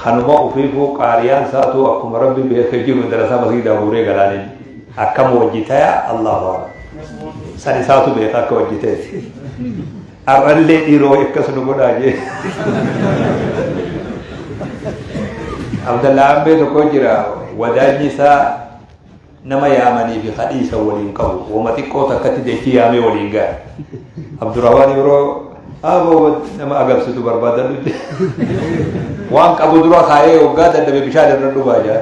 Kanuma ufiifuu qaariyaan saatuu akkuma rabbi beeke jiru madarasaa masgiidaa guuree galaaniin akkam wajji taya allahu akbar san isaatu beeka akka wajji ta'e ar'allee dhiiroo akkas nu godhaa jee abdallaa ambee tokko jira wadaanyi isaa Nama yaamanii fi ka dhiisan waliin qabu. Woma xiqqoo takkatti dachii yaamee waliin gahe. Abdurrahmaan Ibroo aboo nama agarsiitu barbaadadhu jedhe. Waan qabu dura kaa'ee waggaa dadhabe bishaan irra dhugaa jira.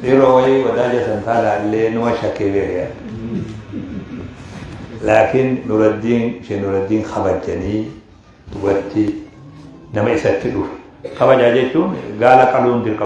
Yeroo wayii wadaaja san taanaa illee numa shakkee beekaa. Laakiin Nuraddiin ishee Nuraddiin kabajanii dubartii nama isatti dhufe. Kabajaa jechuun gaala qaluun dirqama.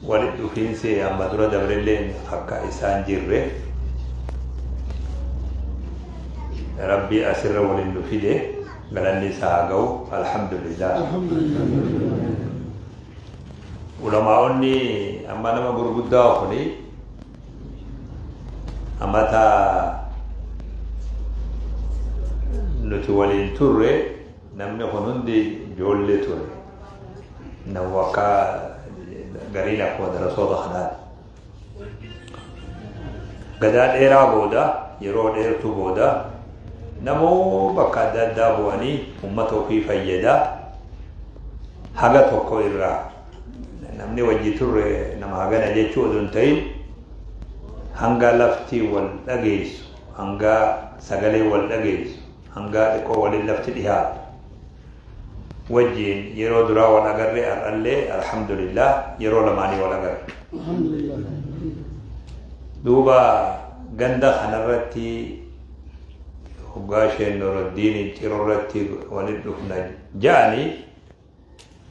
Walitti dhufiinsi amma dura dabrelleen akka isaan jirre rabbii asirra waliin nu fide galanni isaa haa ga'u alhamdulillah. Ulamaa'onni amma nama gurguddaa kuni amata nuti waliin turre namni kun hundi ijoollee ture. Nawwaqa garii lakkoo darasoota kanaan. Gadaa dheeraa booda yeroo dheertuu booda namoo bakka adda addaa bu'anii uummata ofii fayyada haga tokko irraa namni wajji turre nama hagana jechuu odoo hin ta'in hanga lafti wal dhageessu hanga sagalee wal dhageessu hanga xiqqoo waliin lafti dhihaatu wajjiin yeroo duraa wal agarre har'allee alhamdulillah yeroo lamaanii wal agarre. Duuba ganda kanarratti hoggaa isheen Nuraddiin cirorratti walitti dhufna ja'anii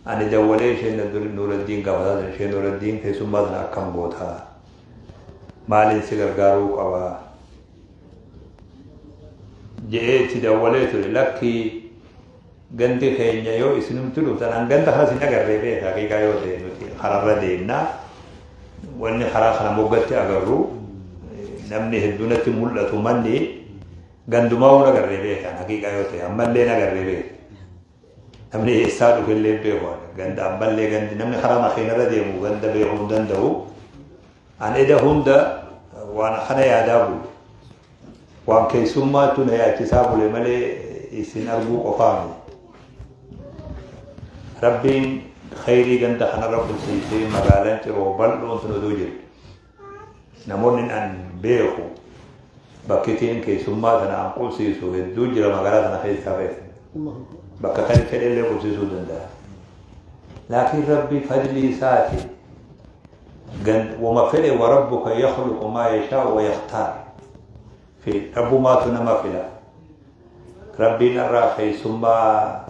ani dawwalee isheen Nuraddiin gaafataa ture isheen Nuraddiin keessummaa sana akkam goota maaliin si gargaaruu qaba je'ee itti dawwalee ture lakkii gandi keenya yoo isinumti dhuftan an ganda kanas hin agarree beeka haqiiqaa yoo ta'e nuti kararra deemna wanni karaa kana moggatti agarru namni hedduunatti mul'atu manni gandumaa waan agarree beekan haqiiqaa yoo ta'e ammallee agarree beeka namni eessaa dhufellee beeku ganda ammallee gandi namni karaa makiinarra deemu ganda beekuu hin danda'u An eda hunda waan akkana yaadaa bule. Waan keessummaattu na yaachisaa bule malee isin arguu qofaa miti. Rabbiin khayrii ganda kanarra bulchiisee magaalaan ciroo bal'oon sun oduu jiru. Namoonni an beeku bakkitiin keessummaa sana an qubsiisu hedduu jira magaalaa sana keessaa keessa. Bakka kan fedhe illee qubsiisuu danda'a. Laakiin Rabbi fadlii isaatiin Gan wama fedhe wa rabbuka yakhluqu maa yashaa'u wa yakhtaar. Fi rabbumaatu nama fila. Rabbiin irraa keessummaa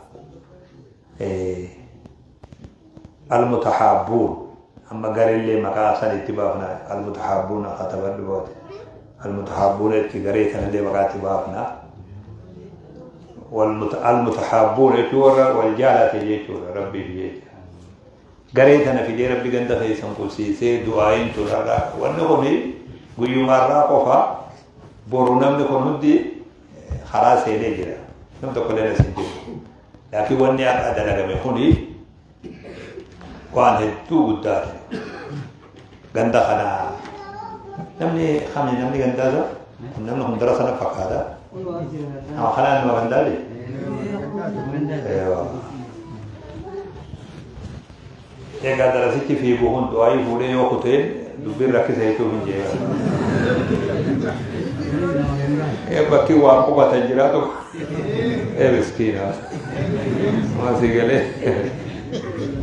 almutahaabbuun amma gareellee maqaa san itti baafna almutahaabbuun akka taphadhu boote almutahaabbuun itti garee kanallee maqaa itti baafna almutahaabbuun jechuun warra wal jaalate jechuudha rabbiif jecha Garee tana fidee rabbi ganda keessan qubsiisee du'aayin turaadha. Wanni kun guyyumaarraa qofa boru namni kun hundi karaa seenee jira. Nam tokkollee na sin jiru. Laakiin wanni har'a dalagame kun waan hedduu guddaati. Ganda kana namni kami namni gandaa isaa kun namni hundara sana fakkaata. Nama kanaan nama gandaa jee. Egaa darasitti fiigu kun du'aayii fuudhee yoo kuteen dubbiin rakkisa jechuun hin jeeqan. Bakki waa qubatan jiraatu. ee miskiina waan sii galee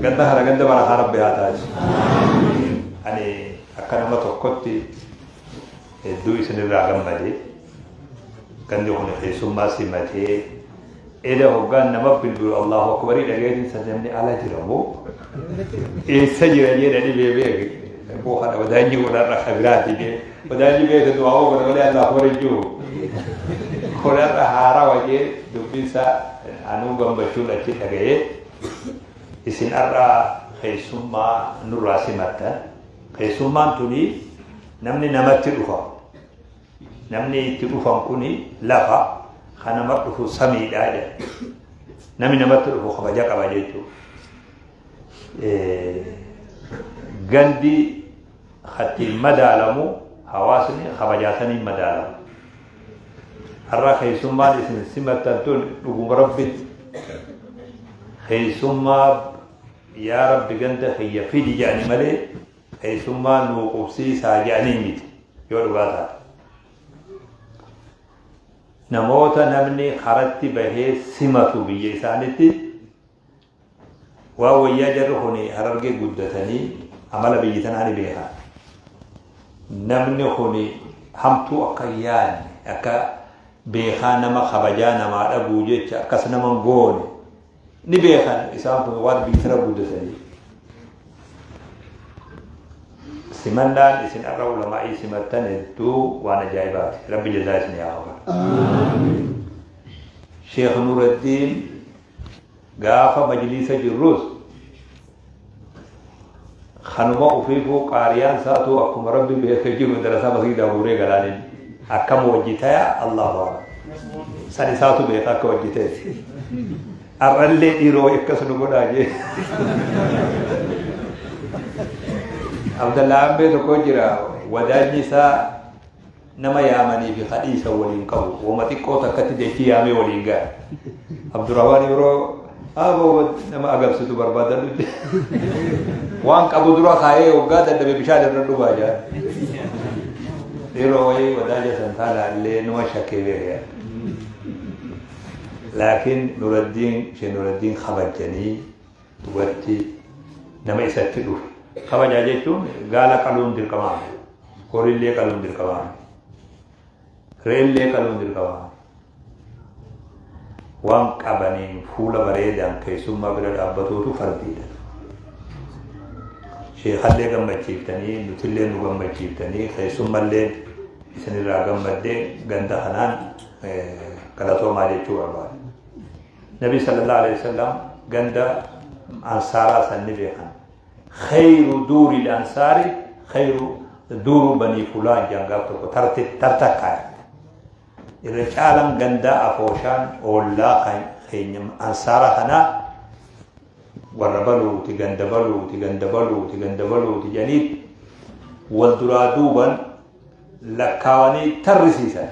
ganda kana ganda barakaa rabbi haa taasisu ani akka nama tokkotti hedduu isinirraa gammade gandi kun keessummaa simatee eda hoggaan nama bilbilu allahu akbarii dhageetiin san namni ala jira moo eessa jira jedhanii beebeeke boo kana wadaanyi godharra kabiraati jee Wadaajii beekta du'aa oogana malee Allaah akbar hin jiru. Kun har'a haaraa wajee dubbinsaa anuu gammachuun achi dhaga'ee isin har'a keessummaa nurraa simattan. Keessummaan tuni namni namatti dhufa. Namni itti dhufan kuni lafa kan nama dhufu samiidha jedha. Namni namatti dhufu kabaja qaba jechuudha. Gandi Ka ittiin madaalamu hawaasni kabajaa saniin madaalama. Har'a keessummaan isin simattan tun dhuguma rabbitti. Keessummaa yaa rabbi ganda kiyya fidi jedhani malee keessummaa nuu qubsiisaa jedhanii miti yoo dhugaa taate. Namoota namni karatti bahee simatu biyya isaanitti Waa wayyaa jarri kun harargee guddatanii amala biyyi tanaa ni beekan. Namni kun hamtuu akka hin yaadne akka beekaa nama kabajaa namaa dhabuu jecha akkas nama hin goone ni beekan isaan kun waan biyyi tana guddatanii. Simannaan isin har'a ulamaa'ii simattan hedduu waan ajaa'ibaati. Rabbi jazaa isin yaa kafalu. Sheekh Nuuraddiin Gaafa majliisa jirrus kanuma ufiifuu qaariyaan saatuu akkuma rabbi beeke jiru darasaa masgiidaa guuree galaaniin akkam wajji taya allahu akbar san isaatu beeka akka wajji ta'e har'allee dhiiroo akkas nu godhaa jee abdallaa ambee tokko jira wadaanyi isaa Nama yaamanii fi ka dhiisan wal hin qabu. Woma xiqqoo takkatti dachii yaamee wal hin ga'a. Abdurrahmaan Ibroo aboo nama agabsitu barbaadadhu jedhe. Waan qabu dura kaayee waggaa dadhabe bishaan irra dhugaa jira. Yeroo wayii wadaaja san taanaa illee numa shakkee beekaa. Laakiin Nuraddiin Shee Nuraddiin kabajanii dubartii nama isatti dhufe kabajaa jechuun gaala qaluun dirqamaa horiillee qaluun dirqamaa reellee qaluun dirqamaa waan qabaniin fuula bareedaan keessummaa bira dhaabbatuutu fardiidha. Sheekallee gammachiiftanii nutillee nu gammachiiftanii keessummallee isinirraa gammaddee ganda kanaan galatoomaa jechuu barbaada. Nabii sallallahu alayhi wasallam ganda ansaaraa san ni beekan. Khayru duuri ansaari khayru duuru banii fulaan jaan gaaf tokko tartakkaa irra caalan gandaa afooshaan oollaa kan keenya ansaara kanaa warra baluuti ganda baluuti ganda baluuti ganda baluuti janiit wal duraa duuban lakkaawanii tarrisiisan.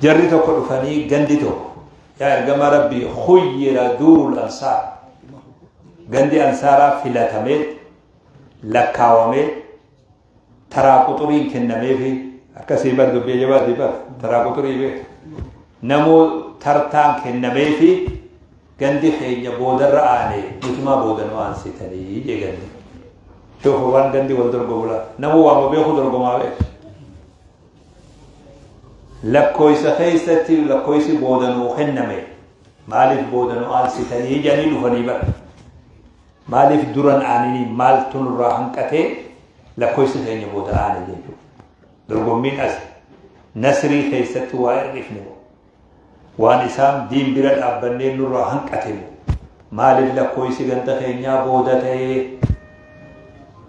Jarri tokko dhufanii gandi tokko yaa ergamaa rabbii khuyyira duurul ansaar gandi ansaaraa filatamee lakkaawamee taraa quxuriin kennameefi akkasii bar dubbii jabaati bar taraa quxurii bee namuu tartaan kennameefi gandi keenya boodarra aanee nutumaa booda nu aansitanii jee gandi shoofa waan gandi wal dorgomula namuu waama beeku dorgomaa beeku Lakkooysa keessatti lakkooysi booda nuu kenname maaliif booda nu aansitanii jedhanii dhufanii bara. Maaliif duran aaninii maaltu nurraa hanqatee lakkooysi keenya booda aane jechuudha. Dorgommiin as nasrii keessatti waa hir'ifne Waan isaan diin bira dhaabbanneen nurraa hanqate moo? Maaliif lakkooysi ganda keenyaa booda ta'ee?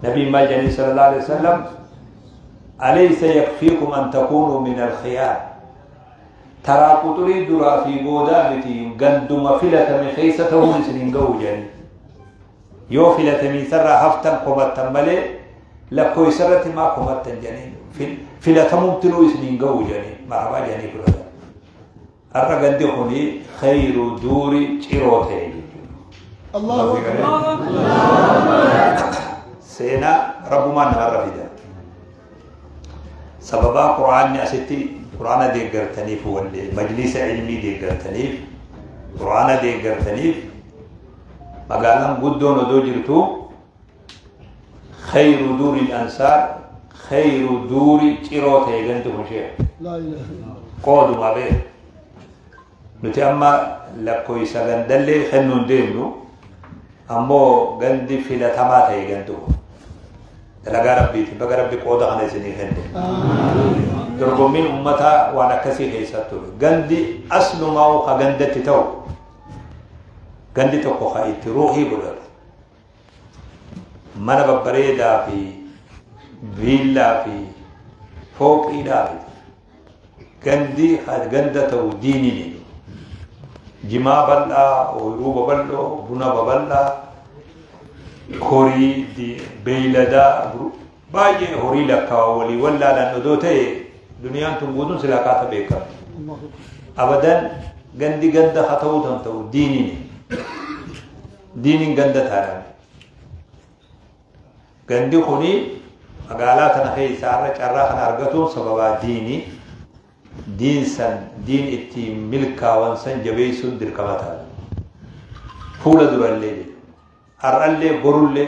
Nabiin maal jedhanii sallallahu alaihi wasallam alaysa yakfiikum an takuunuu min alkhiyaar taraa quxurii duraa fi boodaa miti ganduma filatame keessa ta'uun isin hin ga'u jedhanii Yoo filatamiinsarraa haftan komattan malee lakkoofsarratti maa komattan jedhanii filatamumtinuu isiniin ga'u jedhanii marabaa jedhanii fudhatan. Har'a gandi kuni khayru duuri ciroo ta'e jechuudha. Seenaa rabbumaan namarra fida. Sababaa Quraanni asitti Quraana deeggartaniif wallee majlisa ilmii deeggartaniif Quraana deeggartaniif magaalaan guddoon odoo jirtu khayru duuri ansaar khayru duuri ciroo ta'e ganti kun shee qooduma bee nuti amma lakkoofsa gandallee kennuun deemnu ammoo gandi filatamaa ta'e ganti kun dalagaa rabbiiti baga rabbi qooda kana isinii kenne dorgommiin ummataa waan akkasii keessatti ture gandi aslumaa ka gandatti ta'u gandi tokko kan itti ruuhii godhatu mana babbareedaa fi viillaa fi fooqiidhaa fi gandi ganda ta'u diiniin jimaa bal'aa ooyiruu babal'oo buna babal'aa horii beeyladaa Baay'een horii lakkaawaa walii wallaalan odoo ta'ee duniyaan tun guutuun silaa kaata beekamti. Abadan gandi ganda haa ta'uu tan ta'u diiniin diiniin ganda taadhaan. Gandi kuni magaalaa kana keessaa irra carraa kana argatuun sababaa diinii diin san diin ittiin milkaawan san jabeessuun dirqama ta'a. Fuula durallee har'allee borullee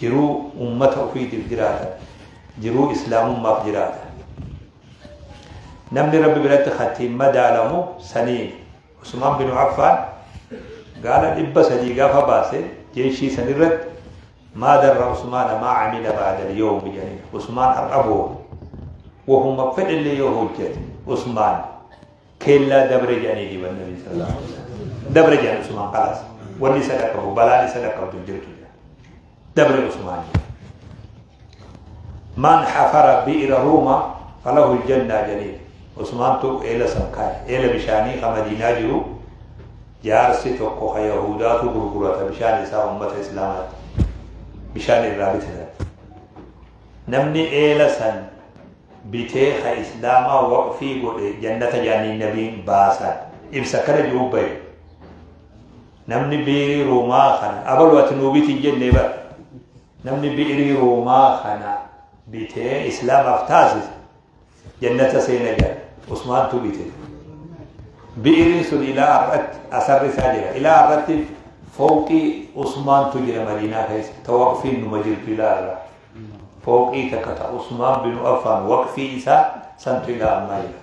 Jiruu ummata ufiitiif jiraata. Jiruu Islaamummaaf jiraata. Namni Rabbi biratti kan ittiin madaalamu saniin. Usmaan binu Affaan gaala dhibba sadii gaafa baase jeeshii san irratti maa darra Usmaana maa camila ba'adal yoo jedhaniin. Usmaan har'a booda. Wahuma fedhellee yoo hojjete Usmaan. Keellaa dabre jedhanii diban nabi sallallahu alaihi wasallam. Dabre jedhan Usmaan kalaas. Wanni isa dhaqqabu balaan isa dhaqqabdu hin jirtu jedhan. Dabre Usmaan jedhan. Man hafara bi'ira ruuma falahu aljannaa jedhanii. Usmaantu eela san kaa'e. Eela bishaanii ka Madiinaa jiru jaarsi tokko ka Yahuudaatu gurgurata bishaan isaa uummata Islaamaatti. Bishaan irraa bitatan. Namni eela san bitee ka islaamaa waqfii godhe jannata jaanii nabiin baasan ibsa akkana jiru bahe namni biirii ruumaa kana abalu ati nuu bitii jennee bara namni biirii ruumaa kana bitee islaamaaf taasise jannata seena jala usmaantu bite biiriin sun ilaa har'atti asarri isaa jira ilaa har'atti fooqii usmaantu jira madiinaa keessa tawaqfiin numa jirtu ilaa har'a Fooqii takka ta Usmaan binu Affaan waqfii isaa santu ilaa ammaa jira.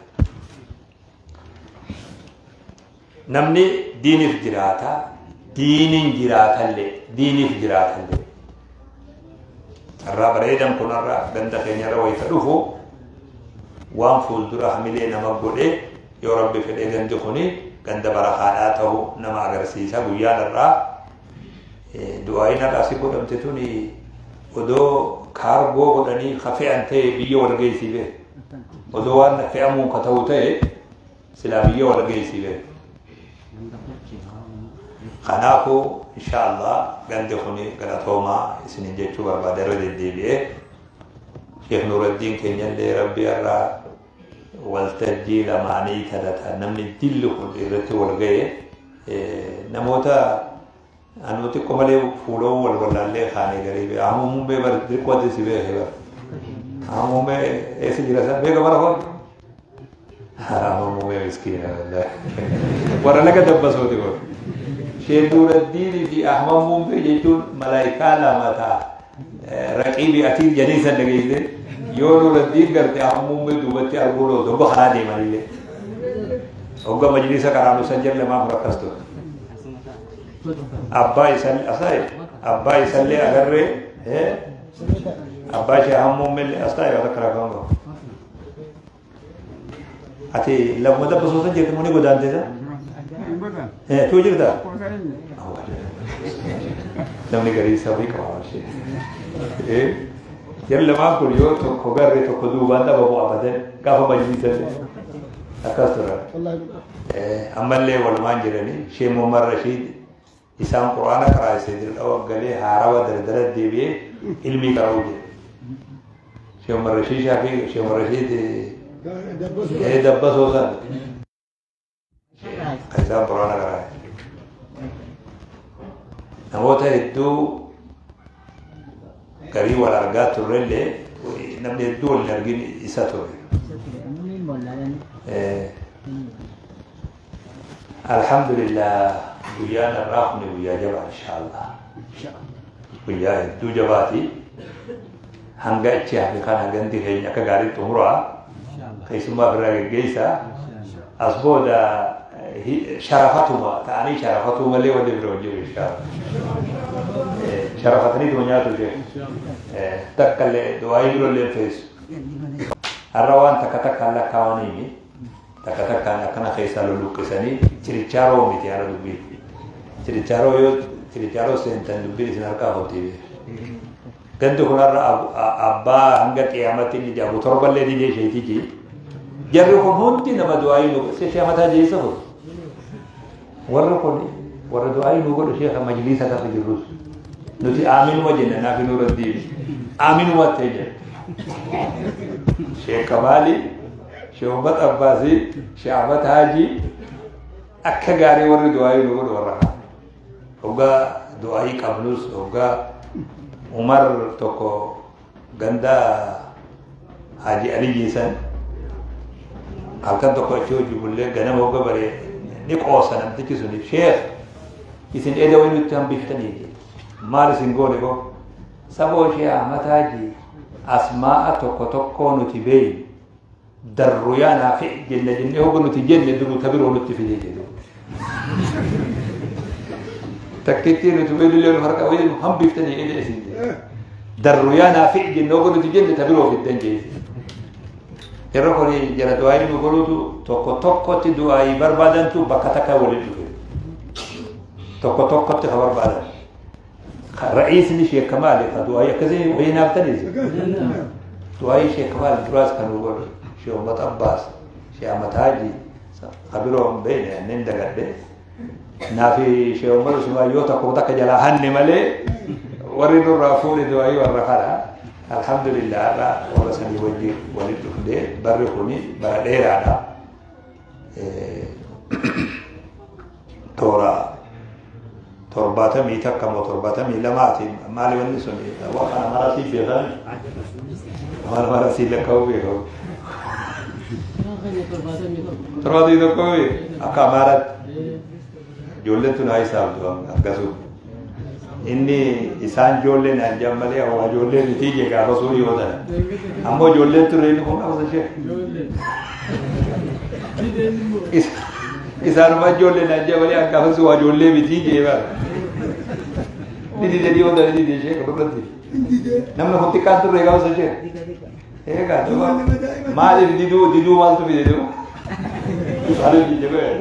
Namni diiniif jiraata, diiniin jiraatallee, diiniif jiraatallee. Carraa bareedan kunarra ganda keenyarra wayita dhufu waan fuuldura hamilee nama godhe yoo rabbi fedhee gandi kuni ganda barakaadhaa ta'u nama agarsiisa guyyaa irraa Du'aayiin har'aasii godhamte tuni odoo kaargoo godhanii ka fe'an ta'e biyya wal geessii bee. Odoo waan fe'amuun ka ta'u ta'e silaa biyya wal geessii bee. Kanaafuu insha Allah gandi kuni galatoomaa isinin jechuu barbaada irra deddeebi'ee. Sheekh Nuuraddiin keenyallee Rabbi irraa waltajjii lamaanii talataan namni jilli kun irratti wal ga'e namoota anuu xiqqoo malee fuuloo wal wallaallee kaanee garii bee amma muummee bar xiqqoo adda si beekee bar amma muummee eessa jira isaa beeka bara hoo amma muummee miskiina warra laga dabbasuuti kun sheeduuraddiinii fi ahmad muummee jechuun malaayikaa lama ta'a. Raqiibii atiif jedhee san dhageessee yoo nuraddiin garte ammuummee duubatti arguun oolu hogga karaa deemanillee hogga majlisa qaraanu san jalla maaf rakkas ture abbaa isan asaayi abbaa isallee agarree abbaa ishee ammuummeellee asaayi rakka rakkaan qabu Ati lammuma takka osoo san jirtu muni godaantee san? Eh, tuu jirta? Namni garii isaa fi qabaama ishee. Eh, yeroo lamaan kun yoo tokko garree tokko duubaan dhabamu abadan gaafa majlisan akkas turan. Eh, ammallee walumaan jiranii shee Muhammad Rashiid Isaan qur'aana qaraasise dirdhawa galee haarawa dardara deebi'ee ilmii qara'uu jedhe. Sheekh Umar Rashiid Shaafii Sheekh Umar Rashiid ee dabbasoo san kan isaan qur'aana qaraasise. Namoota hedduu garii wal argaa turrellee namni hedduu wal argin isa ture. Alhamdulillah guyyaan irraa kun guyyaa jabaa inshaallah. Guyyaa hedduu jabaati. Hanga achi hafe kana gandi keenya akka gaarii xumuraa keessummaa biraa geggeessaa as booda sharafatuma ta'anii sharafatuu malee wanti bira hojii beekaa sharafatanii tuma nyaatu ishee takka illee waa'ee biro illee feesu har'a waan takka takkaan lakkaawanii takka takkaan akkana keessaa luluqqisanii chirichaaroo miti haala dubbii chirichaaroo yoo chirichaaroo seentan dubbii isin harkaa hojii beekaa. Gandi kunarra abbaa hanga qiyaamatti inni jaabu torballee didee isheetii jee. Jarri kun hundi nama du'aayii nu godhe. Sheekha mataa jeessa kun. Warri kun warra du'aayii nu godhe sheekha majliisa gaafa jirrus. Nuti aaminuma jenna naaf hin irra deebi. Aaminuma ta'e jenna. Sheekha maali? Sheekha Abbaasii, Sheekha Haajii akka gaarii warri du'aayii nu godhe warra kana. Hoggaa du'aayii qabnus hoggaa Umar tokko ganda Haaji Aliyyii san halkan tokko achi hojii bullee ganama hogga baree ni qoosa namtichi suni sheekh isin eeda wayii nutti hambiftanii jedhe. maal isin goone koo saboo shee Ahmad Haaji asmaa'a tokko tokkoo nuti beeynu Darru yaa naafi jenna jennee hoga nuti jenne duruu ta biroo nutti fidee jedhu. Takkittii nuti weelillee nu harka weelu hambiftanii jedhe isin jedhe. Darru yaa naafi jenna hoga nuti jenne ta biroo fiddan jedhe. Yeroo kun jara du'aayi nu godhutu tokko tokkotti du'aayi barbaadantu bakka takka waliin dhufe. Tokko tokkotti ka barbaadan. Ra'iisni Sheekh Kamaal ka du'aayii akkasii wayii naaf taniise. Du'aayii Sheekh Kamaal duraas kan godhe Sheekh Ummat Abbaas Sheekh Ahmad Haaji ka biroo hin beekne anneen dagadhe. Naafi Sheekh Ummat Usmaan yoo tokko takka jalaa hanne malee warri nurraa fuudhe du'aayii warra kana. Alhamdulillah irraa warra sanii wajjin walitti dhufnee barri kuni bara dheeraadha. toora torbaatamii takka moo torbaatamii lamaatiin maali wanni sun waan kana marasii beekan waan marasii lakka'uu beekamu. Torbaatamii tokko akka amaaraatti. Ijoolleen tun haa isaamtu akkasuma. Inni isaan ijoollee naan jedhan malee hawaa ijoollee mitii jee gaafa sun yoo ta'e. Ammoo ijoolleen turre inni kun qabsa ishee. Isaanuma ijoollee naan jedhan malee akkaafa sun waa ijoollee mitii jee bara. Ni dide dhiyoo ta'e ni dide ishee kan irratti. Namni kun xiqqaan turre qabsa ishee. Eegaa duuba maaliif diduu diduu maaltu fide diduu? Maaliif didde ba'e?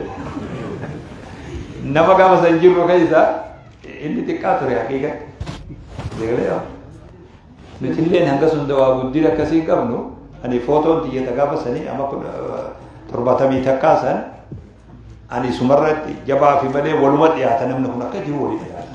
Nama gaafa san jirru keessa inni xiqqaa ture haqiiqa. Deegalee yaa. Nuti illee hanga sun dawaa guddina akkasii qabnu ani footoon tiyyata gaafa sanii amma kudha torbaatamii takkaa san ani sumarratti jabaa fi malee waluma dhiyaata namni kun akka jiru walii dhiyaata.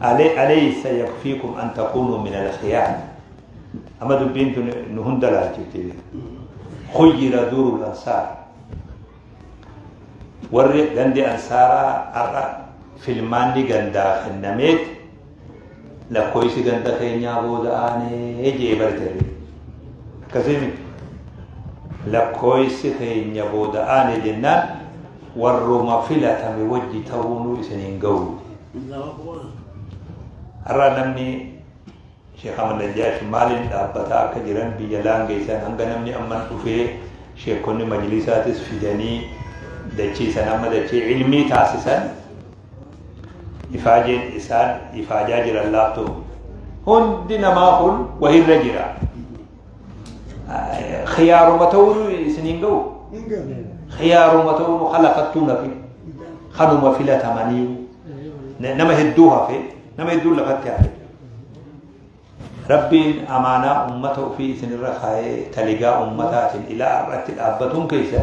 ale alaysa yakfikum an takunu min alkhiyar amma dubbiin tun nu hunda laalchifti khuyyira durul ansaar warri gandi ansaaraa har'a filmaanni gandaa kennameet lakkoofsi ganda keenyaa booda aanee jee bartee akkasii miti lakkoofsi keenya booda aanee jennaan warruma filatame wajji ta'uunuu isin hin ga'u. Har'a namni Sheekh Ahmad Najjaash maaliin dhaabbataa akka jiran biyya laangeessan hanga namni amman dhufee sheekonni majlisaatis fidanii dachiisan amma dachee ilmii taasisan ifaajeen isaan ifaajaa jiran laattu hundi namaa kun wahirra jira. Khiyaaruma ta'uun isin hin ga'u. Khiyaaruma ta'uun khalaqattuu nafi kanuma filatamanii nama hedduu hafe nama hedduu lafatti hafe. Rabbiin amaanaa ummata ofii isinirra kaa'ee taligaa ummataatiin ilaa irratti dhaabbatuun keessa